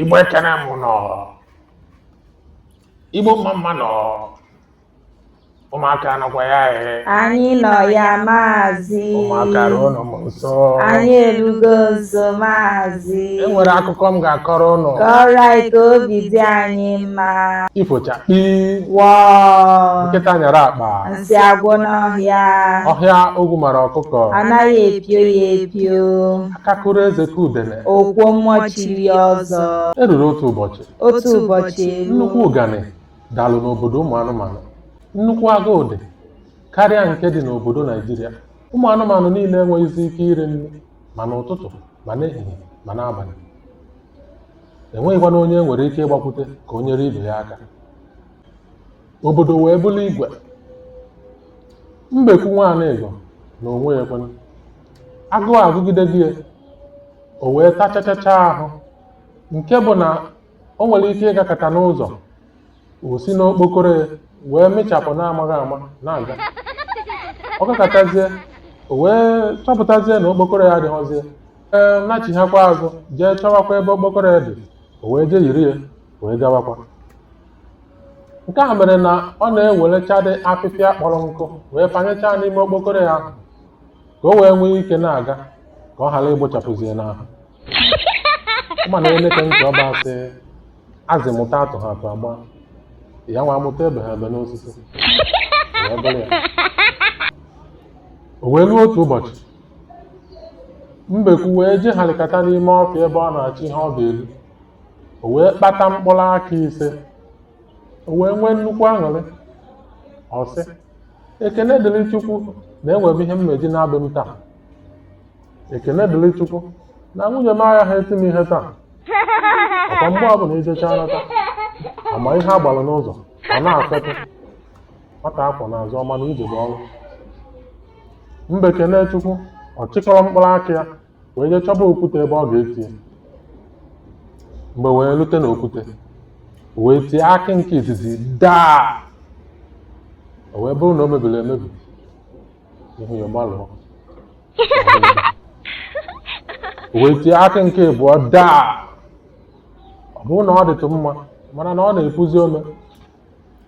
Igbo ekene m ụnụ Igbo mma mma nụ ụmụaka nọkwa ya ee anyị nọ ya maazị ụmụaka ruo nụ nso anyị erugo nso maazị e nwere akụkọ m ga-akọrọ ụnụ kọọrọ anyị ka obi dị anyị mma ifo chakpii wọọ nkịta nyara akpa nsị agwụ n'ọhịa ọhịa ogwu mara ọkụkọ anaghị epio ya epio akakụrụ eze ka udene ọkwa mmụọ chiri ya ọzọ o ruru otu ụbọchị otu ụbọchị eruo nnukwu ụganị dalụ n'obodo ụmụ anụmanụ nnukwu agụụ dị karịa nke dị n'obodo naijiria ụmụ anụmanụ niile enweghịzi ike iri nri ma n'ụtụtụ ma n'ehihie ma n'abalị e nweghịkwanụ onye e nwere ike ịgbakwute ka o nyere ibe ya aka obodo wee bụrụ igwe mbekwu nwa Anịga n'onwe ya kwanụ agụụ agụgidebe ya, o wee tachachacha ahụ nke bụ na o nwere ike ịgakata n'ụzọ o si n'okpokoro ya wee mịchapụ na-amaghị ama na-aga ọ gakatazie o wee chọpụtazie na okpokoro ya adịghịzi ya ọ nachighakwa azụ jee chọwakwa ebe okpokoro ya dị o wee jee yiri ya wee gawakwa nke a mere na ọ na-ewelechadị apịpịa kpọrọ nkụ wee panyechaa n'ime okpokoro ya ahụ ka o wee nwee ike na-aga ka ọ ghara ịgbụchapụzi ya n'ahụ mana eneke ntị ọba sị azị mụta atụha atụ agba ya nwa amụta ebeha ebe n'osisi wee bụrụ ya o wee ruo otu ụbọchị mbekwu wee jeharịkata n'ime ọfịa ebe ọ na-achọ ihe ọ ga-eri o wee kpata mkpụrụ akị ise o wee nwee nnukwu aṅụrị ọ sị ekene dịrị chukwu na enwee m ihe m ga-eji naa be m taa ekene dịrị chukwu na nwunye m agaghị eti m ihe taa ọkwa mgbe ọbụla e jechaa nata a ma ihe a gbara n'ụzọ ọ na e kutuo nwata a kwọ n'azụ ọ ma na ije bụ ọrụ mbe kene chukwu ọ chịkọrọ mkpụrụ akị ya wee jee chọba okwute ebe ọ ga-eti ya mbe wee rute n'okwute wee tie akị nke izizi daa o wee bụrụ na o mebiri emebi ihu ya malụ o wee tie akị nke abụọ daa ọ bụrụ na ọ dịtụ mma mana na ọ na-epuzi ome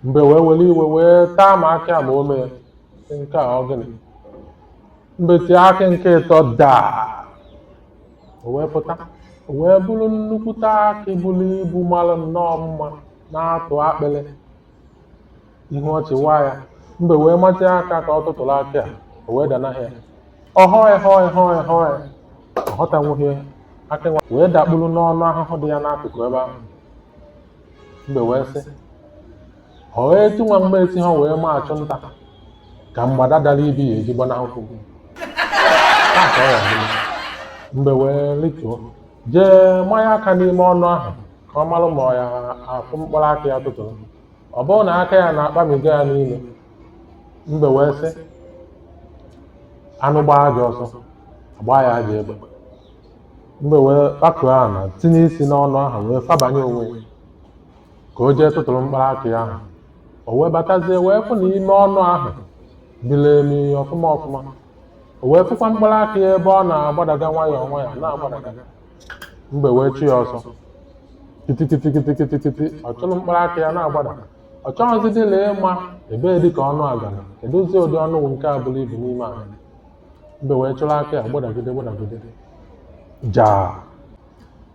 mbe wee were iwe wee taa ma akị ma ome ya Sị, nke a ọ gịnị mbe tie akị nke ịtọ daa o wee pụta o wee bụrụ nnukwute akị buru ibu mara nnọọ mma na-atụ akpịrị ihu ọchị waa ya mbe wee matịa aka ka ọ tụtụrụ akị ya o wee danahụ ya ọhọị họị họị họị ọ họtanwughị akị nwa wee dakpuru n'ọnụ ahụhụ dị ya n'akụkụ ebe ahụ mbe wee sị ọ wee ti nwa mgbe esi ha wee ma achụ nta ka mgbada dara ibi ya eji gbanahụ gị Taa ka ọ ya-adị. mbe wee rituo jee manye aka n'ime ọnụ ahụ ka ọ malụ ma ọ ya-afụ mkpụrụ akị ya tụtụrụ ọ bụrụ na aka ya na-akpamiga ya n'ime mbe wee sị anụ gbaa ajọ ọsọ agbaa ya ajọ egbe mbe wee kpakụọ ana tinye isi n'ọnụ ahụ wee fabanye onwe ya ka o jee tụtụrụ mkpụrụ akị ahụ o wee batazie wee fụ na ime ọnụ ahụ miri emi ọfụma ọfụma o wee fụkwa mkpụrụ akị ebe ọ na-agbadaga nwayọọ nwayọọ na-agbadaga mbe wee chụa ya ọsọ kitikitikitikitikiti ọ chụrụ mkpụrụ akị ya na-agbada ọ chọghịzi dị na ịma ebe dị ka ọnụ a gara kedụzi ụdị ọnụ wụ nke a bụrụ ibu n'ime ala mbe wee chụrụ akị ya gbadagide gbadagide jaa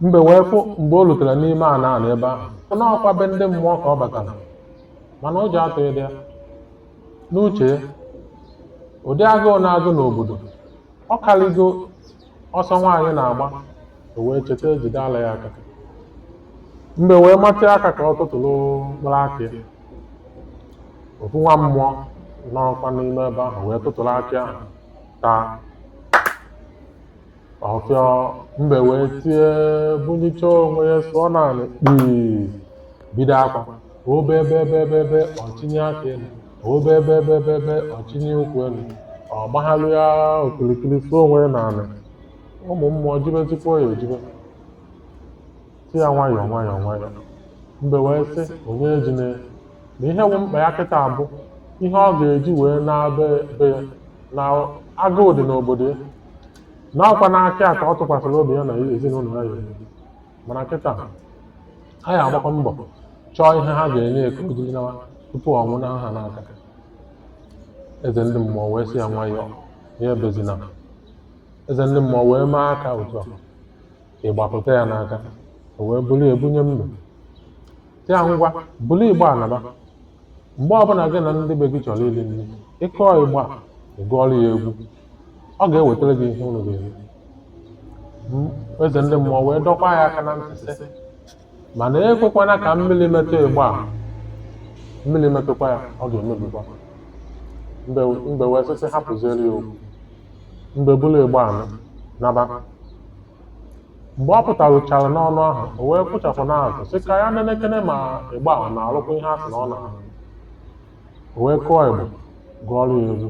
mbe wee fụ mgbe o rutere n'ime ala ala ebe ahụ fụ na ọkwa be ndị mmụọ ka ọ batara mana ụjọ atụghịdị ya na o chee ụdị agụụ na-agụ n'obodo ọ karịgo ọsọ nwaanyị na-agba o wee cheta ejide ala ya aka mbe wee matịa aka ka ọ tụtụrụ mkpụrụ akị ya ofu nwa mmụọ nọkwa n'ime ebe ahụ wee tụtụrụ akị ahụ taa ọfịọ mbe wee tie bunichaa onwe ya sụọ n'ana kpii bido akwa o bee bee bee bee ọ chịnie aka elu o bee bee bee bee bee ọ chịnie ụkwụ elu ọ gbaghalịa okirikiri sụọ onwe ya n'ala ụmụ mmụọ jibezikwa ya ejibe sị ya nwayọọ nwayọọ nwayọọ mbe wee sị onye ejine na ihe bụ mkpa ya kịtaa bụ ihe ọ ga-eji wee naba be ya na agụụ dị n'obodo ya na ọkwa n'akị a ka ọ tụkwasịrị obi ya na ezinụlọ ya ya mana kịta ha ya-agbakwa mbọ chọọ ihe ha ga-enye ya ka o jiri naa tupu ọ nwụnaa ha n'aka eze ndị mmụọ wee sị ya nwayọọ ya ebezina eze ndị mmụọ wee mee aka otu a igba pụta ya n'aka o wee bulu ya bunye mbe sị ya ngwa bulu igba a naba mgbe ọbụla gị na ndị be gị chọrọ iri nri ị kụọ igba ị gụọrọ ya egwu ọ ga-ewetara gị ihe unu ga-eri M- eze ndị mmụọ wee dọkwa ya aka na ntị sị mana ekwekwana ka mmiri metụ ịgba a mmiri metụkwa ya ọ ga-emebikwa mbe wee sị sị hapụziere ya okwu mbe buru ịgba ahụ naba mgbe ọ pụtaruchara n'ọnụ ahụ o wee kpụchapụ n'azụ sị ka ya nenekene ma ịgba ahụ na-arụkwa ihe a sị na ọ na-arụ o wee kụọ ịgba gụọrọ ya egwu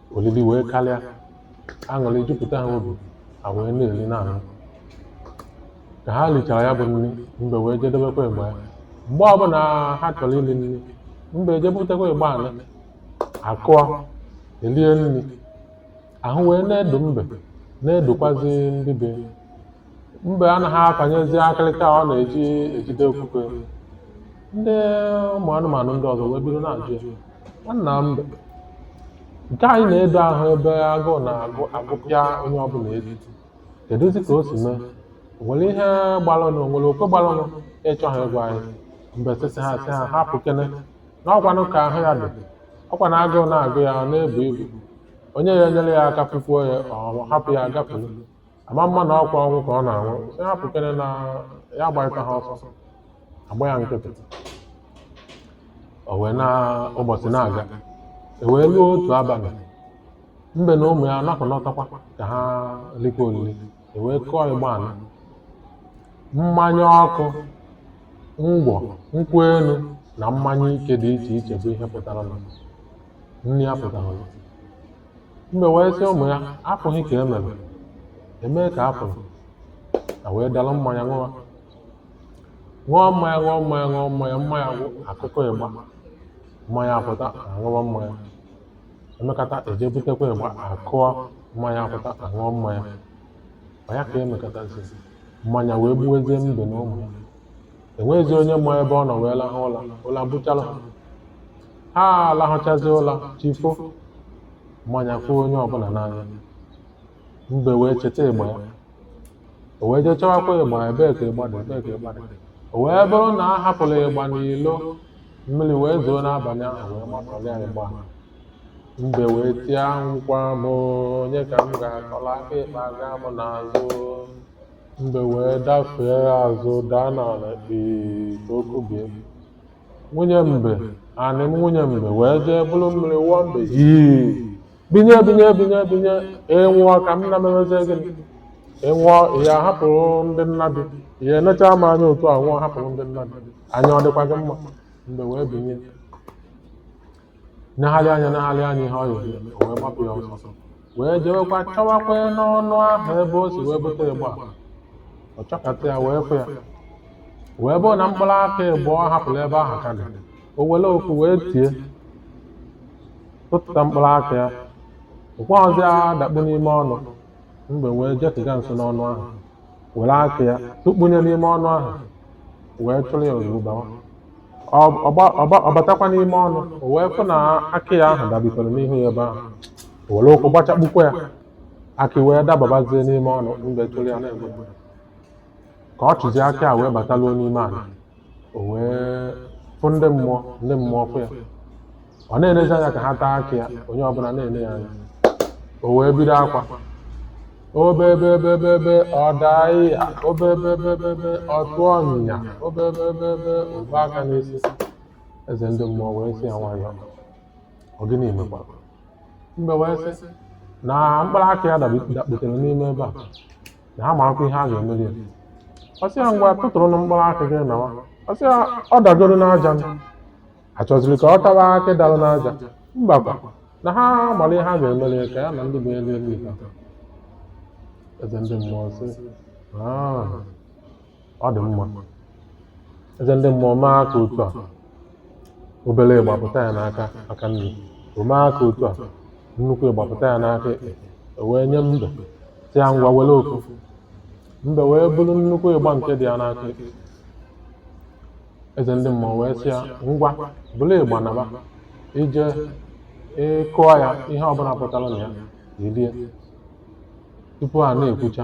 olili wee karịa aṅụrị jupụta ha obi ha wee na-eri na-aṅụ ka ha richara ya bụ nri mbe wee je debekwa ịgba ya mgbe ọbụla ha chọrọ iri nri mbe je butakwa ịgba ahụ akụọ elie nri ahụ wee na-edo mbe na-edokwazi ndị be mbe anaghị akanyezi akịrịka ọ na-eji ejide okwukwe ndị ụmụ anụmanụ ndị ọzọ wee bido na-ajụ ya nwanna mbe nke a ị na-edo ahụ ebe agụụ na-agụ agụpịa onye ọbụla ezi kedụzi ka o si mee O nwere ihe gbalụnụ o nwere oke gbalụnụ ị chọghị ịgwa anyị mbe sị sị ha sị ha hapụkene na ọ kwanụ ka ahụ ya dị ọ kwa na agụụ na-agụ ya ọ na-ebu ibu onye ya enyere ya aka fụfuo ya ọ hapụ ya gafere ama mma na ọ kwa ọnwụ ka ọ na-anwụ sị hapụkere na ya agbarịta ha ọsọ agba ya nkịtị o wee na ụbọchị na-aga e wee ruo otu abalị mbe na ụmụ ya nọkọ nọtakwa ka ha likwa olili e wee kụọ ịgba ahụ mmanya ọkụ ngwọ nkwụ elu na mmanya ike dị iche iche bụ ihe pụtara na nri ya pụtara na Mbe wee sị ụmụ ya, afụghị ka e mere, emee ka afụlụ. Ha wee dara mmanya ṅụwa. Ṅụọ mmanya, ṅụọ mmanya, ṅụọ mmanya, mmanya gwụ, akụkwa ịgba. Mmanya apụta, aṅụwa mmanya. Emekata eje butekwa ịgba, akụọ mmanya apụta, aṅụọ mmanya. Ọ ya ka emekatazi. Mmanya wee gbuwezie mbe na ụmụ ya. enweghịzi onye ma ebe ọ nọ wee lahụ ụla ụla buchara ha ha alahụchazi ụla chi fo mmanya fụ onye ọbụla n'anya mbe wee cheta ịgba ya o wee jee chọwakwa ịgba ebee ka ịgba dị ebee ka ịgba dị o wee bụrụ na a hapụrụ ịgba n'ilo mmiri wee zoo n'abalị ahụ wee matọrọ ya ịgba mbe wee tie nkwa m onye ka m ga-akọla aka ịkpa aga m n'azụ Mbe wee dafee azụ daa n'ala ee ka o kubie. Nwunye mbe, Anịm nwunye mbe wee jee buru mmiri wụọ mbe yii. Binye binye binye binye ị nwụọ ka m na memezie gịnị? Ị nwụọ ị ya hapụrụ m ndị nna gị. Ị ya enecha m anya otu a nwụọ hapụrụ m ndị nna gị. Anya ọ dịkwa gị mma? Mbe wee binye. Negharị anya negharị anya ihe ọ yiri eme, o wee gbapụ ya ọsọsọ. Wee jewekwa chọwakwa n'ọnụ ahụ ebe o si wee bute ịgba a. Ọ chọkata ya wee fụ ya. Wee bụrụ na mkpụrụ akị ịgba ọ hapụrụ ebe ahụ ka dị. O were oku wee tie. Tụtụta mkpụrụ akị ya. Ụkwa ọzọ ya adakpu n'ime ọnụ. Mbe wee jetụga nso n'ọnụ ahụ. were akị ya tụkpunye n'ime ọnụ ahụ wee chụrụ ya ozugbo bawa Ọ- ọgba- ọgba- ọ batakwa n'ime ọnụ o wee fụ na akị ya ahụ dabikọrọ n'ihu ya ebe ahụ o were ụkwụ gbachakpukwa ya akị wee dababazie n'ime ọnụ mbe chụrụ ya na-agba ka ọ chụzie akị a wee bataluo n'ime ala o wee fụ ndị mmụọ ndị mmụọ fụ ya ọ na-elezi anya ka ha taa akị ya onye ọbụla na-ele ya anya o wee bido akwa obebebebebe ọ daa ya obebebebebe ọ tụọ onwe ya obebebebe o buo aka n'isi eze ndị mmụọ wee sị ya nwayọọ ọ gịnị mekwa mbe wee sị na mkpụrụ akị ya dabi- dakputere n'ime ebe a na ha marakwa ihe ha ga-emeli ya ọ sị ya ngwa tụtụrụnụ mkpụrụ akị gị nawa ọ sị ya ọ dagoro n'aja m achọzirọ ka ọ tawa akị dara n'aja mbakwa na ha mara ihe ha ga-emeli ya ka ya na ndị be ya lie ife eze ndị mmụọ sị "Ah, ọ dị mma eze ndị mmụọ mee aka otu a obere ịgba pụta ya n'aka aka nri o mee aka otu a nnukwu ịgba pụta ya n'aka ekpe o wee nye mbe sị ya ngwa were ofu mbe wee buru nnukwu ịgba nke dị ya n'aka ekpe eze ndị mmụọ wee sị ya ngwa buru ịgba naba i je ị kụọ ya ihe ọbụla pụtara na ya i lie tupu a na-ekwucha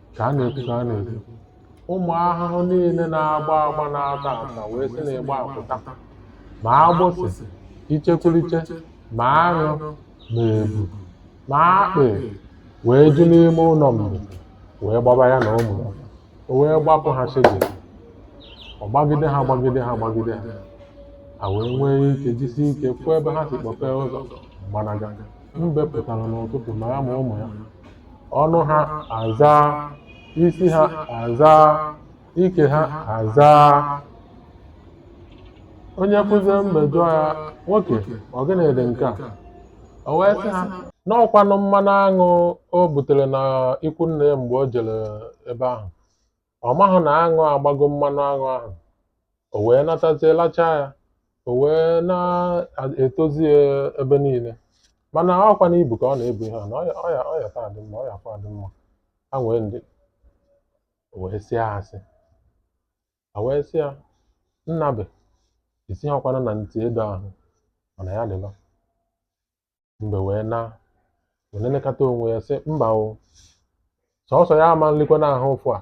ka a na-ekwu ka a na-ekwu ụmụ ahụhụ niile na-agba agba na-ata ata wee si na ịgba a pụta ma agbụsị ichekwuliche ma aṅụ ma ebu ma akpị wee ju n'ime ụlọ mbe wee gbaba ya na ụmụ ya o wee gbapụ ha chidi ọ gbagide ha gbagide ha gbagide ha ha wee nwee ike jisi ike fụ ebe ha si kpọpee ụzọ gbanaga mbe pụtara n'ụtụtụ ma ya ma ụmụ ya ọnụ ha azaa isi ha azaa ike ha azaa onye fụzie mbe ajụọ ya nwoke ọ gịnị dị nke a o wee sị ha na ọ kwanụ mmanụ aṅụ o butere na ikwu nne ya mgbe o jere ebe ahụ Ọ mahụ na aṅụ agbago mmanụ aṅụ ahụ. O wee natazie lachaa ya. O wee na-etozi ya ebe niile. Mana ọkwa na ibu ka ọ na-ebu ihe a na ọya ọya ọya taa dị mma, ọya kwa dị mma. Ha nwee ndị o wee sị ha asị. Ha wee sị ya, Nnabe, isighọkwana na ntị edo ahụ, mana ya dịba. mbe wee na wee na-elekọta onwe ya sị mba o sọsọ ya ama nlikwanụ ahụ ụfụ a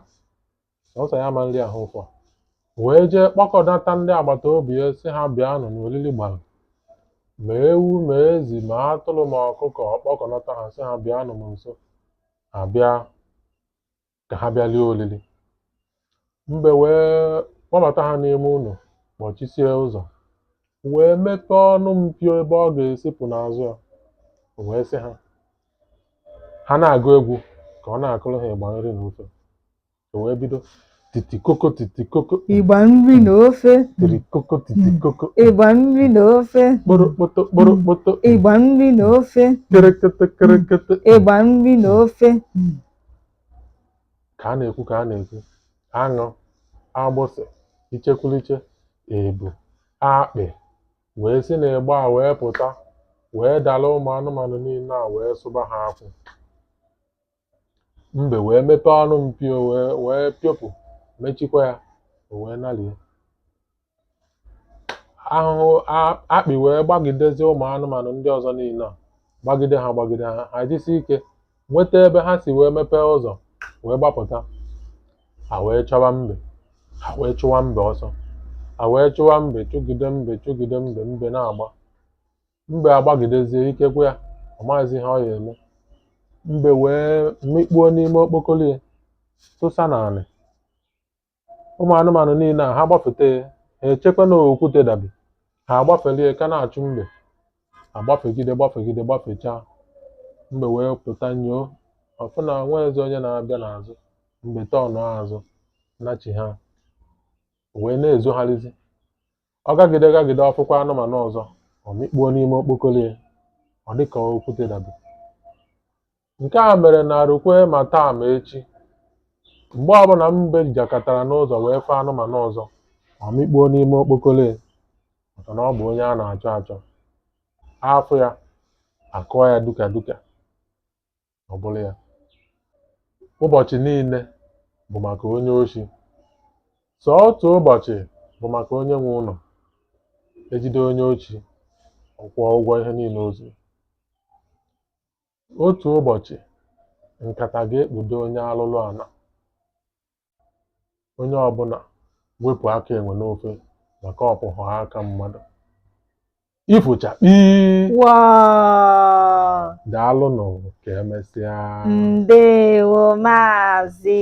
sọsọ ya ama nri ahụ ụfụ a wee jee kpọkọnata ndị agbata obi ya sị ha bịa nọ n'olili gbara ma ewu ma ezi ma atụrụ ma ọkụkọ kpọkọnata ha sị ha bịa nọ m nso ha bịa ka ha bịa rie oriri mbe wee kpọbata ha n'ime ụlọ kpọchisie ụzọ wee meta ọnụ mpio ebe ọ ga-esi pụ n'azụ ya o wee sị ha ha na-agụ egwu ka ọ na-akụrụ ha ịgba nri na ofe o wee bido titikoko titikoko ịgba nri na ofe tirikoko titikoko ịgba nri na ofe kporokpoto kporokpoto ịgba nri na ofe kerekete kerekete ịgba nri na ofe ka a na-ekwu ka a na-ekwu aṅụ agbụsị ichekwuliche ebu akpị wee si n'ịgba a wee pụta wee dara ụmụ anụmanụ niile a wee sụba ha akwụ mbe wee mepee ọnụ mpio wee wee pịọpụ mechikwa ya o wee nalie ahụhụ a- akpị wee gbagidezie ụmụ anụmanụ ndị ọzọ niile a gbagide ha gbagide ha ha jisi ike nweta ebe ha si wee mepee ụzọ wee gbapụta ha wee chọwa mbe ha wee chụwa mbe ọsọ ha wee chụwa mbe chụgide mbe chụgide mbe mbe na-agba mbe agbagidezie ike gwụ ya ọ maghịzi ihe ọ ya-eme mbe wee mikpuo n'ime okpokoro ya tụsa n'anị ụmụ anụmanụ niile a ha gbafete ha echekwa na okwute dabi ha agbafelie ka na-achụ mbe agbafegide gbafegide gbafechaa mbe wee pụta nyoo ọ fụ na enwezi onye na-abịa n'azụ mbe tọnụ azụ nachighaa wee na-ezogharịzi ọ gagide gagide ọ fụkwa anụmanụ ọzọ o mikpuo n'ime okpokoro ya ọ dị ka okwute dabi Nke a mere na rukwe ma taa ma echi, mgbe ọbụla mbe jakatara n'ụzọ wee fụ anụmanụ ọzọ, o mikpuo n'ime okpokoro ya maka na ọ bụ onye a na-achọ achọ. A fụ ya, a kụọ ya duka duka, ọ bụrụ ya. Ụbọchị niile bụ maka onye oshi. Sọ otu ụbọchị bụ maka onye nwe ụlọ. E jide onye oshi, ọ kwụọ ụgwọ ihe niile o zuru. Otu ụbọchị, nkata ga-ekpudo onye arụrụ ala. Onye ọbụla wepụ aka enwe n'ofe maka ọ bụhụ aka mmadụ. Ifo chakpii! Waa! Daalụnụ ka emesịa. Ndewo Maazị.